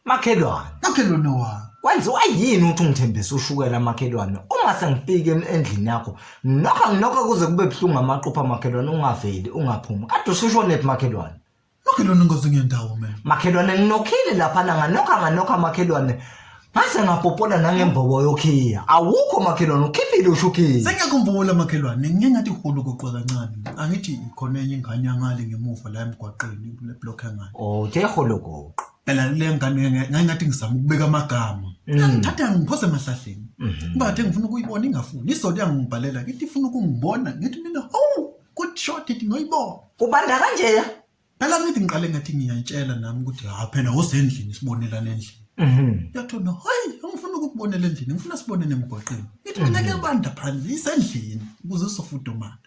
Makhelwane, Makhelwane wami. kwenziwa yini ukuthi ungithembise ushukela makhelwane uma sengifike em- endlini yakho nokho nginokho kuze kube buhlungu amaqupha makhelwane ungaveli ungaphumi kade usushonephi makhelwane Makhelwane ngoze ngendawo mina. makhelwane nginokhile laphana nganokha nganokha makhelwane ngase ngapopola nangembobo yokhiya awukho makhelwane ukhiphile ushukhiya Sengiyakhumbula makhelwane, ngike ngathi hulu kuqwa kancane. Angithi khona enye ingane yangale ngemuva la emgwaqeni kule block engane. uthe holokoqo phela le ngane nge- ngangingathi ngizama ukubeka amagama ngithatha ngiphose emahlahleni kuba kade ngifuna ukuyibona ingafuni isonto yangibhalela ngithi ifuna ukungibona ngithi mina hawu good shot ithi ngoyibona Ubanda kanjeya. phela ngithi ngiqale ngathi ngiyayitshela nami ukuthi ha phela wosendlini sibonelana endlini Mhm. yathona hayi angifuna ukukubonela endlini ngifuna sibonele emgwaqeni ithi mina kuyabanda phandle isendlini ukuze usofudumala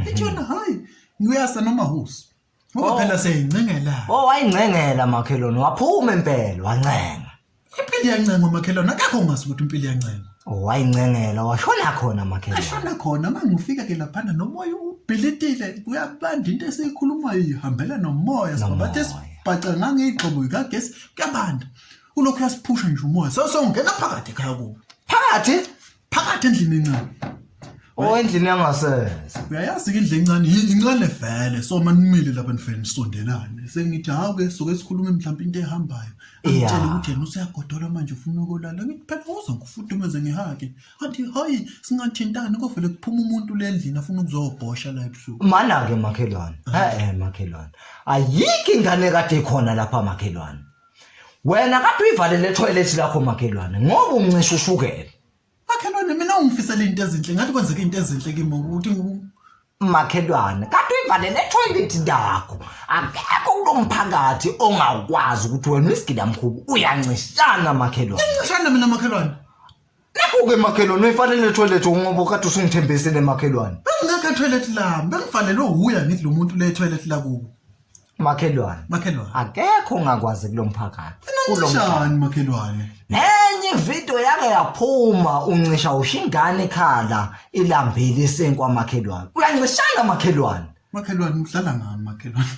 ithi yona hayi ngiyasa nomahusi Ngoba phela seyincengelana. Oh wayincengela makhelwane waphuma impela wancenga. Impilo iyancenga umakhelwane akakho ungazi ukuthi impilo iyancenga. Oh wayincengela washona khona makhelwane. Ashona khona uma ngifika ke laphana nomoya ubhilitile kuyabanda into esiyikhulumayo ihambela nomoya sibabathe Nomoya. sibhaca ngangeyigxobo ikagesi kuyabanda. Ulokhu uyasiphusha nje umoya. So so ngena phakathi ekhaya kubo. Phakathi phakathi endlini encane Oh endlini yangasese. Uyayazi ke indle encane yi- incane vele so manimile lapha nifele nisondelane sengithi hawu ke soke sikhulume mhlawumbe into ehambayo Yeah. angitshela ukuthi yena useyagodola manje ufuna ukolala ngithi phela uza ngifudumeze ngihake athi hayi singathintani kovele kuphuma umuntu le ndlini afuna ukuzobhosha la ebusuku Mana ke makhelwane. Eh makhelwane. Ayikho ingane kade ikhona lapha makhelwane. wena kade uyivalele etoilet lakho makhelwane ngoba uncisha ushukela makhelwane mina ungifisela into ezinhle ngathi kwenzeka into ezinhle kimi ukuthi makhelwane kade uyivalele etoilet lakho akekho kulomphakathi ongakwazi ukuthi wena uyisigidamkhubu uyancishana makhelwane incishana mina makhelwane Nakho-ke makhelwane uyifanele toilet ungoba ukade usungithembisile makhelwane. Bengingakho etoilet lami, bengifanelwe wuye angithi lo muntu le toilet lakubo. Makhelwane. Makhelwane. Akekho ongakwazi kulo mphakathi. Kulo mphakathi. Kunjani makhelwane? Nenye ividiyo yake yaphuma uncisha usho ingane ekhala ilambile isinkwa makhelwane. Uyancishana makhelwane. Makhelwane udlala ngami makhelwane.